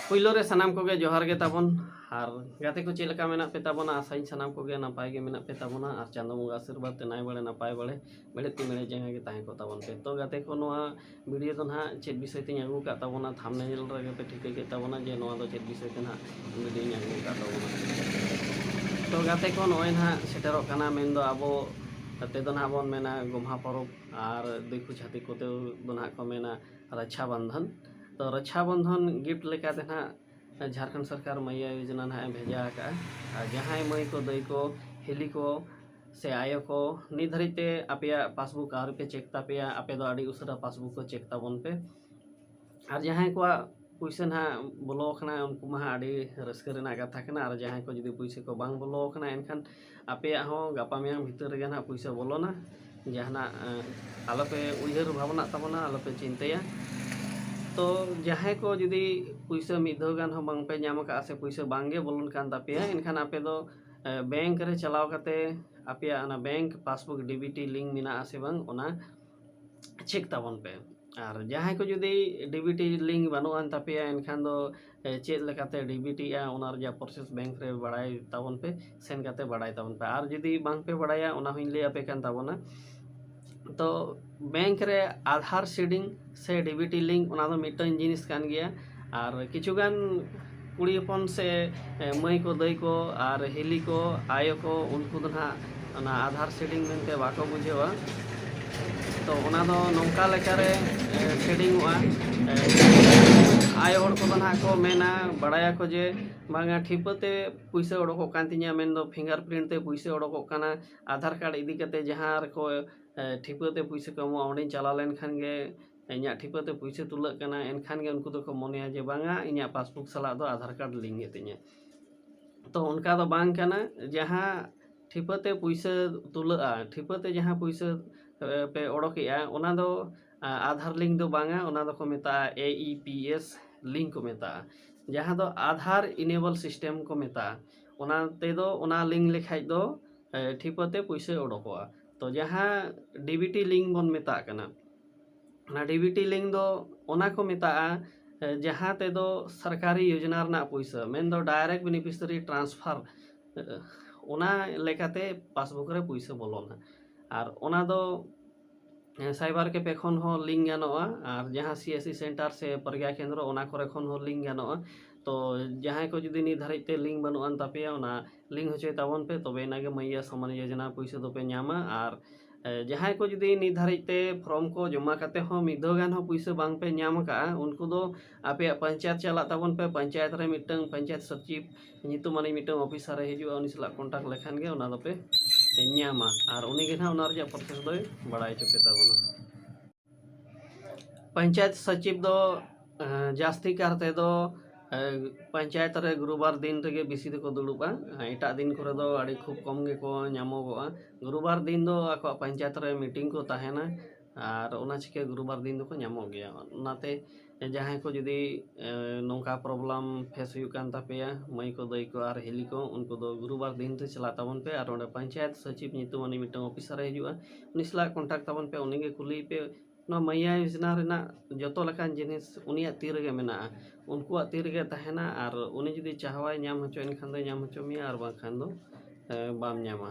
ᱯᱩᱭᱞᱳ ᱨᱮ ᱥᱟᱱᱟᱢ ᱠᱚᱜᱮ ᱡᱚᱦᱟᱨ ᱜᱮ ᱛᱟᱵᱚᱱ ᱟᱨ ᱜᱟᱛᱮ ᱠᱚ ᱪᱮᱫ ᱞᱮᱠᱟ ᱢᱮᱱᱟᱜ ᱯᱮ ᱛᱟᱵᱚᱱᱟ ᱟᱥᱟᱧ ᱥᱟᱱᱟᱢ ᱠᱚᱜᱮ ᱱᱟᱯᱟᱭ ᱜᱮ ᱢᱮᱱᱟᱜ ᱯᱮ ᱛᱟᱵᱚᱱᱟ ᱟᱨ ᱪᱟᱸᱫᱳ ᱵᱚᱸᱜᱟ ᱟᱥᱤᱨᱵᱟᱫᱽ ᱛᱮ ᱱᱟᱭ ᱵᱟᱲᱮ ᱱᱟᱯᱟᱭ ᱵᱟᱲᱮ ᱢᱮᱬᱦᱮᱫ ᱛᱤ ᱢᱮᱬᱦᱮᱫ ᱡᱟᱸᱜᱟ ᱜᱮ ᱛᱟᱦᱮᱸ ᱠᱚᱜ ᱛᱟᱵᱚᱱ ᱯᱮ ᱛᱚ ᱜᱟᱛᱮ ᱠᱚ ᱱᱚᱣᱟ ᱵᱷᱤᱰᱭᱳ ᱫᱚ ᱱᱟᱦᱟᱜ ᱪᱮᱫ ᱵᱤᱥᱚᱭ ᱛᱤᱧ ᱟᱹᱜᱩ ᱟᱠᱟᱫ ᱛᱟᱵᱚᱱᱟ ᱛᱷᱟᱢᱵᱽᱱᱮᱞ ᱨᱮᱜᱮ ᱯᱮ ᱴᱷᱤᱠᱟᱹ ᱠᱮᱫ ᱛᱟᱵᱚᱱᱟ ᱡᱮ ᱱᱚᱣᱟ ᱫᱚ ᱪᱮᱫ ᱵᱤᱥᱚᱭ ᱛᱮ ᱱᱟᱦᱟᱜ ᱵᱷᱤᱰᱭᱳᱧ ᱟᱹᱜᱩ ᱟᱠᱟᱫ ᱛᱟᱵᱚᱱᱟ ᱛᱚ ᱜᱟᱛᱮ ᱠᱚ ᱱᱚᱜᱼᱚᱭ ᱱᱟᱦᱟᱜ ᱥᱮᱴᱮᱨᱚᱜ ᱠᱟᱱᱟ ᱢᱮᱱᱫᱚ ᱟᱵᱚ ᱛᱮ ᱫᱚ ᱱᱟᱦᱟᱜ ᱵᱚᱱ ᱢᱮᱱᱟ ᱜᱚᱢᱦᱟ ᱯᱚᱨᱚᱵᱽ ᱟᱨ ᱫᱤᱠᱩ ᱪᱷᱟᱹᱛᱤᱠ ᱠᱚᱛᱮ ᱫᱚ ᱱᱟᱦᱟᱜ ᱠᱚ ᱢᱮᱱᱟ ᱨᱟᱠᱷᱟ ᱵᱚᱱᱫᱷᱚᱱ ᱛᱚ ᱨᱟᱠᱷᱟ ᱵᱚᱱᱫᱷᱚᱱ ᱜᱤᱯᱷᱴ ᱞᱮᱠᱟᱛᱮ ᱱᱟᱦᱟᱜ ᱡᱷᱟᱲᱠᱷᱚᱸᱰ ᱥᱚᱨᱠᱟᱨ ᱢᱟᱹᱭᱭᱟ ᱡᱳᱡᱚᱱᱟ ᱱᱟᱦᱟᱜ ᱮ ᱵᱷᱮᱡᱟ ᱟᱠᱟᱫᱼᱟ ᱟᱨ ᱡᱟᱦᱟᱸᱭ ᱢᱟᱹᱭ ᱠᱚ ᱫᱟᱹᱭ ᱠᱚ ᱦᱤᱞᱤ ᱠᱚ ᱥᱮ ᱟᱭᱳ ᱠᱚ ᱱᱤᱛ ᱫᱷᱟᱹᱨᱤᱡ ᱛᱮ ᱟᱯᱮᱭᱟᱜ ᱯᱟᱥᱵᱩᱠ ᱟᱹᱣᱨᱤ ᱯᱮ ᱪᱮᱠ ᱛᱟᱯᱮᱭᱟ ᱟᱯᱮ ᱫᱚ ᱟᱹᱰᱤ ᱩᱥᱟᱹᱨᱟ ᱯᱟᱥᱵᱩᱠ ᱠᱚ ᱪᱮᱠ ᱛᱟᱵᱚᱱ ᱯᱮ ᱟᱨ ᱡᱟᱦᱟᱸᱭ ᱠᱚᱣᱟᱜ ᱯᱩᱭᱥᱟᱹ ᱱᱟᱦᱟᱜ ᱵᱚᱞᱚ ᱟᱠᱟᱱᱟ ᱩᱱᱠᱩ ᱢᱟ ᱦᱟᱸᱜ ᱟᱹᱰᱤ ᱨᱟᱹᱥᱠᱟᱹ ᱨᱮᱱᱟᱜ ᱠᱟᱛᱷᱟ ᱠᱟᱱᱟ ᱟᱨ ᱡᱟᱦᱟᱸᱭ ᱠᱚ ᱡᱩᱫᱤ ᱯᱩᱭᱥᱟᱹ ᱠᱚ ᱵᱟᱝ ᱵᱚᱞᱚ ᱟᱠᱟᱱᱟ ᱮᱱᱠᱷᱟᱱ ᱟᱯᱮᱭᱟᱜ ᱦᱚᱸ ᱜᱟᱯᱟ ᱢᱮᱭᱟᱝ ᱵᱷᱤᱛᱟᱹᱨ ᱨᱮᱜᱮ ᱱᱟᱦᱟᱜ ᱯᱩᱭᱥᱟᱹ ᱵᱚᱞᱚᱱᱟ ᱡᱟᱦᱟᱱᱟᱜ ᱟᱞᱚ ᱯᱮ ᱩᱭᱦᱟᱹᱨ ᱵᱷᱟᱵᱽᱱᱟᱜ ᱛᱟᱵᱚᱱᱟ ᱟᱞᱚ ᱯᱮ ᱪᱤᱱᱛᱟᱹᱭᱟ ᱛᱚ ᱡᱟᱦᱟᱸᱭ ᱠᱚ ᱡᱩᱫᱤ ᱯᱩᱭᱥᱟᱹ ᱢᱤᱫ ᱫᱷᱟᱣ ᱜᱟᱱ ᱦᱚᱸ ᱵᱟᱝ ᱯᱮ ᱧᱟᱢ ᱟᱠᱟᱫᱼᱟ ᱥᱮ ᱯᱩᱭᱥᱟᱹ ᱵᱟᱝ ᱜᱮ ᱵᱚᱞᱚᱱ ᱠᱟᱱ ᱛᱟᱯᱮᱭᱟ ᱮᱱᱠᱷᱟᱱ ᱟᱯᱮ ᱫᱚ ᱵᱮᱝᱠ ᱨᱮ ᱪᱟᱞᱟᱣ ᱠᱟᱛᱮ ᱟᱯᱮᱭᱟᱜ ᱚᱱᱟ bank passbook D B T link ᱢᱮᱱᱟᱜ ᱟᱥᱮ ᱵᱟᱝ ᱚᱱᱟ ᱪᱮᱠ ᱛᱟᱵᱚᱱ ᱯᱮ ᱟᱨ ᱡᱟᱦᱟᱸᱭ ᱠᱚ ᱡᱩᱫᱤ ᱰᱤ ᱵᱤ ᱴᱤ ᱞᱤᱝᱠ ᱵᱟᱹᱱᱩᱜ ᱟᱱ ᱛᱟᱯᱮᱭᱟ ᱮᱱᱠᱷᱟᱱ ᱫᱚ ᱪᱮᱫ ᱞᱮᱠᱟᱛᱮ ᱰᱤ ᱵᱤ ᱴᱤᱜᱼᱟ ᱚᱱᱟ ᱨᱮᱭᱟᱜ ᱯᱨᱚᱥᱮᱥ ᱵᱮᱝᱠ ᱨᱮ ᱵᱟᱲᱟᱭ ᱛᱟᱵᱚᱱ ᱯᱮ ᱥᱮᱱ ᱠᱟᱛᱮ ᱵᱟᱲᱟᱭ ᱛᱟᱵᱚᱱ ᱯᱮ ᱟᱨ ᱡᱩᱫᱤ ᱵᱟᱝ ᱯᱮ ᱵᱟᱲᱟᱭᱟ ᱚᱱᱟ ᱦᱚᱸᱧ ᱞᱟᱹᱭ ᱟᱯᱮ ᱠᱟᱱ ᱛᱟᱵᱚᱱᱟ ᱛᱚ ᱵᱮᱝᱠ ᱨᱮ ᱟᱫᱷᱟᱨ ᱥᱤᱰᱤᱝ ᱥᱮ ᱰᱤᱵᱤᱴᱤ ᱞᱤᱝᱠ ᱚᱱᱟ ᱫᱚ ᱢᱤᱫᱴᱟᱝ ᱡᱤᱱᱤᱥ ᱠᱟᱱ ᱜᱮᱭᱟ ᱟᱨ ᱠᱤᱪᱷᱩ ᱜᱟᱱ ᱠᱩᱲᱤ ᱦᱚᱯᱚᱱ ᱥᱮ ᱢᱟᱹᱭ ᱠᱚ ᱫᱟᱹᱭ ᱠᱚ ᱟᱨ ᱦᱤᱞᱤ ᱠᱚ ᱟᱭᱳ ᱠᱚ ᱩᱱᱠᱩ ᱫᱚ ᱱᱟᱦᱟᱜ ᱚᱱᱟ ᱟᱫᱷᱟᱨ ᱥᱤᱰᱤᱝ ᱢᱮᱱᱛᱮ ᱵᱟᱠᱚ ᱵᱩᱡᱷᱟᱹᱣᱟ ᱛᱚ ᱚᱱᱟ ᱫᱚ ᱱᱚᱝᱠᱟ ᱞᱮᱠᱟᱨᱮ ᱥᱤᱰᱤᱝᱚᱜᱼᱟ ᱟᱭᱳ ᱦᱚᱲ ᱠᱚᱫᱚ ᱱᱟᱦᱟᱜ ᱠᱚ ᱢᱮᱱᱟ ᱵᱟᱲᱟᱭᱟᱠᱚ ᱡᱮ ᱵᱟᱝᱟ ᱴᱷᱤᱯᱟᱹ ᱛᱮ ᱯᱩᱭᱥᱟᱹ ᱚᱰᱚᱠᱚᱜ ᱠᱟᱱ ᱛᱤᱧᱟᱹ ᱢᱮᱱᱫᱚ ᱯᱷᱤᱝᱜᱟᱨ ᱯᱨᱤᱱᱴ ᱛᱮ ᱯᱩᱭᱥᱟᱹ ᱚᱰᱚᱠᱚᱜ ᱠᱟᱱᱟ ᱟᱫᱷᱟᱨ ᱠᱟᱨᱰ ᱤᱫᱤ ᱠᱟᱛᱮᱫ ᱡᱟᱦᱟᱸ ᱨᱮᱠᱚ ᱴᱷᱤᱯᱟᱹ ᱛᱮ ᱯᱩᱭᱥᱟᱹ ᱠᱚ ᱮᱢᱚᱜᱼᱟ ᱚᱸᱰᱮᱧ ᱪᱟᱞᱟᱣ ᱞᱮᱱ ᱠᱷᱟᱱ ᱜᱮ ᱤᱧᱟᱹᱜ ᱴᱷᱤᱯᱟᱹ ᱛᱮ ᱯᱩᱭᱥᱟᱹ ᱛᱩᱞᱟᱹᱜ ᱠᱟᱱᱟ ᱮᱱᱠᱷᱟᱱ ᱜᱮ ᱩᱱᱠᱩ ᱫᱚᱠᱚ ᱢᱚᱱᱮᱭᱟ ᱡᱮ ᱵᱟᱝᱟ ᱤᱧᱟᱹᱜ ᱯᱟᱥᱵᱩᱠ ᱥᱟᱞᱟᱜ ᱫᱚ ᱟᱫᱷᱟᱨ ᱠᱟᱨᱰ ᱞᱤᱝᱠ ᱜᱮᱛᱤᱧᱟ ᱛᱚ ᱚᱱᱠᱟ ᱫᱚ ᱵᱟᱝ ᱠᱟᱱᱟ ᱡᱟᱦᱟᱸ ᱴᱷᱤᱯᱟᱹ ᱛᱮ ᱯᱩᱭᱥᱟᱹ ᱛᱩᱞᱟᱹᱜᱼᱟ ᱴᱷᱤᱯᱟᱹ ᱛᱮ ᱡᱟᱦᱟᱸ ᱯᱩᱭᱥᱟᱹ ᱯᱮ ᱚᱰᱚᱠᱮᱜᱼᱟ ᱚᱱᱟ ᱫᱚ ᱟᱫᱷᱟᱨ ᱞᱤᱝᱠ ᱫᱚ ᱵᱟᱝᱟ ᱚᱱᱟ ᱫᱚᱠᱚ ᱢᱮᱛᱟᱜᱼᱟ A E P S link ᱠᱚ ᱢᱮᱛᱟᱜᱼᱟ ᱡᱟᱦᱟᱸ ᱫᱚ ᱟᱫᱷᱟᱨ ᱤᱱᱮᱵᱚᱞ ᱥᱤᱥᱴᱮᱢ ᱠᱚ ᱢᱮᱛᱟᱜᱼᱟ ᱚᱱᱟ ᱛᱮᱫᱚ ᱚᱱᱟ ᱞᱤᱝᱠ ᱞᱮᱠᱷᱟᱡ ᱫᱚ ᱴᱷᱤᱯᱟᱹᱛᱮ ᱯᱩᱭᱥᱟᱹ ᱚᱰᱚᱠᱚᱜᱼᱟ ᱛᱚ ᱡᱟᱦᱟᱸ ᱰᱤ ᱵᱤ ᱴᱤ ᱞᱤᱝᱠ ᱵᱚᱱ ᱢᱮᱛᱟᱜ ᱠᱟᱱᱟ ᱚᱱᱟ ᱰᱤ ᱵᱤ ᱴᱤ ᱞᱤᱝᱠ ᱫᱚ ᱚᱱᱟ ᱠᱚ ᱢᱮᱛᱟᱜᱼᱟ ᱡᱟᱦᱟᱸ ᱛᱮᱫᱚ ᱥᱚᱨᱠᱟᱨᱤ ᱡᱳᱡᱚᱱᱟ ᱨᱮᱱᱟᱜ ᱯᱩᱭᱥᱟᱹ ᱢᱮᱱ ᱫᱚ ᱰᱟᱭᱨᱮᱠᱴ ᱵᱮᱱᱤᱯᱷᱤᱥᱟᱨᱤ ᱴᱨᱟᱱᱥᱯᱷᱟᱨ ᱚᱱᱟ ᱞᱮᱠᱟᱛᱮ ᱯᱟᱥᱵᱩᱠ ᱨᱮ ᱯᱩᱭᱥᱟᱹ ᱵᱚᱞᱚᱱᱟ ᱟᱨ ᱚᱱᱟ ᱫᱚ ᱥᱟᱭᱵᱟᱨ ᱠᱮᱯᱷᱮ ᱠᱷᱚᱱ ᱦᱚᱸ ᱞᱤᱝᱠ ᱜᱟᱱᱚᱜᱼᱟ ᱟᱨ ᱡᱟᱦᱟᱸ ᱥᱤ ᱮᱥ ᱥᱤ ᱥᱮᱱᱴᱟᱨ ᱥᱮ ᱯᱨᱚᱜᱽᱜᱟ ᱠᱮᱱᱫᱨᱚ ᱚᱱᱟ ᱠᱚᱨᱮ ᱠᱷᱚᱱ ᱦᱚᱸ ᱞᱤᱝᱠ ᱜᱟᱱᱚᱜᱼᱟ ᱛᱚ ᱡᱟᱦᱟᱸᱭ ᱠᱚ ᱡᱩᱫᱤ ᱱᱤᱛ ᱫᱷᱟᱹᱨᱤᱡ ᱛᱮ ᱞᱤᱝᱠ ᱵᱟᱹᱱᱩᱜ ᱟᱱ ᱛᱟᱯᱮᱭᱟ ᱚᱱᱟ ᱞᱤᱝᱠ ᱦᱚᱪᱚᱭ ᱛᱟᱵᱚᱱ ᱯᱮ ᱛᱚᱵᱮ ᱟᱱᱟᱜ ᱜᱮ ᱢᱟᱭᱭᱟ ᱥᱚᱢᱢᱟᱱ ᱡᱳᱡᱚᱱᱟ ᱯᱩᱭᱥᱟᱹ ᱫᱚᱯᱮ ᱧᱟᱢᱟ ᱟᱨ ᱡᱟᱦᱟᱸᱭ ᱠᱚ ᱡᱩᱫᱤ ᱱᱤᱛ ᱫᱷᱟᱹᱨᱤᱡ ᱛᱮ ᱯᱷᱨᱚᱢ ᱠᱚ ᱡᱚᱢᱟ ᱠᱟᱛᱮ ᱦᱚᱸ ᱢᱤᱫ ᱫᱷᱟᱣ ᱜᱟᱱ ᱦᱚᱸ ᱯᱩᱭᱥᱟᱹ ᱵᱟᱝ ᱯᱮ ᱧᱟᱢ ᱟᱠᱟᱫᱼᱟ ᱩᱱᱠᱩ ᱫᱚ ᱟᱯᱮᱭᱟᱜ ᱯᱚᱧᱪᱟᱭᱮᱛ ᱪᱟᱞᱟᱜ ᱛᱟᱵᱚᱱ ᱯᱮ ᱯᱚᱧᱪᱟᱭᱮᱛ ᱨᱮ ᱢᱤᱫᱴᱟᱹᱝ ᱯᱚᱧᱪᱟᱭᱮᱛ ᱥᱚᱪᱤᱵᱽ ᱧᱩᱛᱩᱢ ᱟᱹᱱᱤᱡ ᱢᱤᱫᱴᱟᱝ ᱚᱯᱷᱤᱥᱟᱨᱮ ᱦᱤᱡᱩᱜᱼᱟ ᱩᱱᱤ ᱥᱟᱞᱟᱜ ᱠᱚᱱᱴᱟᱠᱴ ᱞᱮᱠᱷᱟᱱ ᱜᱮ ᱚᱱᱟ ᱫᱚᱯᱮ ᱧᱟᱢᱟ ᱟᱨ ᱩᱱᱤ ᱜᱮ ᱱᱟᱦᱟᱜ ᱚᱱᱟ ᱨᱮᱭᱟᱜ ᱯᱨᱚᱥᱮᱥ ᱫᱚᱭ ᱵᱟᱲᱟᱭ ᱦᱚᱪᱚ ᱯᱮ ᱛᱟᱵᱚᱱᱟ ᱯᱚᱧᱪᱟᱭᱮᱛ ᱥᱚᱪᱤᱵᱽ ᱫᱚ ᱡᱟᱹᱥᱛᱤ ᱠᱟᱨ ᱛᱮᱫᱚ ᱯᱚᱧᱪᱟᱭᱮᱛ ᱨᱮ ᱜᱩᱨᱩᱵᱟᱨ ᱫᱤᱱ ᱨᱮᱜᱮ ᱵᱮᱥᱤ ᱫᱚᱠᱚ ᱫᱩᱲᱩᱵᱼᱟ ᱮᱴᱟᱜ ᱫᱤᱱ ᱠᱚᱨᱮ ᱫᱚ ᱟᱹᱰᱤ ᱠᱷᱩᱵᱽ ᱠᱚᱢ ᱜᱮᱠᱚ ᱧᱟᱢᱚᱜᱚᱜᱼᱟ ᱜᱩᱨᱩᱵᱟᱨ ᱫᱤᱱ ᱫᱚ ᱟᱠᱚᱣᱟᱜ ᱯᱚᱧᱪᱟᱭᱮᱛ ᱨᱮ ᱢᱤᱴᱤᱝ ᱠᱚ ᱛᱟᱦᱮᱱᱟ ᱟᱨ ᱚᱱᱟ ᱪᱤᱠᱟᱹ ᱜᱩᱨᱩ ᱵᱟᱨ ᱫᱤᱱ ᱫᱚᱠᱚ ᱧᱟᱢᱚᱜ ᱜᱮᱭᱟ ᱚᱱᱟᱛᱮ ᱡᱟᱦᱟᱸᱭ ᱠᱚ ᱡᱩᱫᱤ ᱱᱚᱝᱠᱟ ᱯᱨᱚᱵᱞᱮᱢ ᱯᱷᱮᱥ ᱦᱩᱭᱩᱜ ᱠᱟᱱ ᱛᱟᱯᱮᱭᱟ ᱢᱟᱹᱭ ᱠᱚ ᱫᱟᱹᱭ ᱠᱚ ᱟᱨ ᱦᱤᱞᱤ ᱠᱚ ᱩᱱᱠᱩ ᱫᱚ ᱜᱩᱨᱩ ᱵᱟᱨ ᱫᱤᱱ ᱛᱮ ᱪᱟᱞᱟᱜ ᱛᱟᱵᱚᱱ ᱯᱮ ᱟᱨ ᱚᱸᱰᱮ ᱯᱚᱧᱪᱟᱭᱮᱛ ᱥᱚᱪᱤᱵᱽ ᱧᱩᱛᱩᱢ ᱩᱱᱤ ᱢᱤᱫᱴᱟᱝ ᱚᱯᱷᱤᱥᱟᱨᱮ ᱦᱤᱡᱩᱜᱼᱟ ᱩᱱᱤ ᱥᱟᱞᱟᱜ ᱠᱚᱱᱴᱟᱠᱴ ᱛᱟᱵᱚᱱ ᱯᱮ ᱩᱱᱤᱜᱮ ᱠᱩᱞᱤᱭᱮ ᱯᱮ ᱱᱚᱣᱟ ᱢᱟᱭᱭᱟ ᱭᱳᱡᱚᱱᱟ ᱨᱮᱱᱟᱜ ᱡᱚᱛᱚ ᱞᱮᱠᱟᱱ ᱡᱤᱱᱤᱥ ᱩᱱᱤᱭᱟᱜ ᱛᱤ ᱨᱮᱜᱮ ᱢᱮᱱᱟᱜᱼᱟ ᱩᱱᱠᱩᱣᱟᱜ ᱛᱤ ᱨᱮᱜᱮ ᱛᱟᱦᱮᱱᱟ ᱟᱨ ᱩᱱᱤ ᱡᱩᱫᱤ ᱪᱟᱦᱟᱣᱟᱭ ᱧᱟᱢ ᱦᱚᱪᱚᱭᱮᱱ ᱠᱷᱟᱱ ᱫᱚᱭ ᱧᱟᱢ ᱦᱚᱪᱚ ᱢᱮᱭᱟ ᱟᱨ ᱵᱟᱝᱠᱷᱟᱱ ᱫᱚ ᱵᱟᱢ ᱧᱟᱢᱟ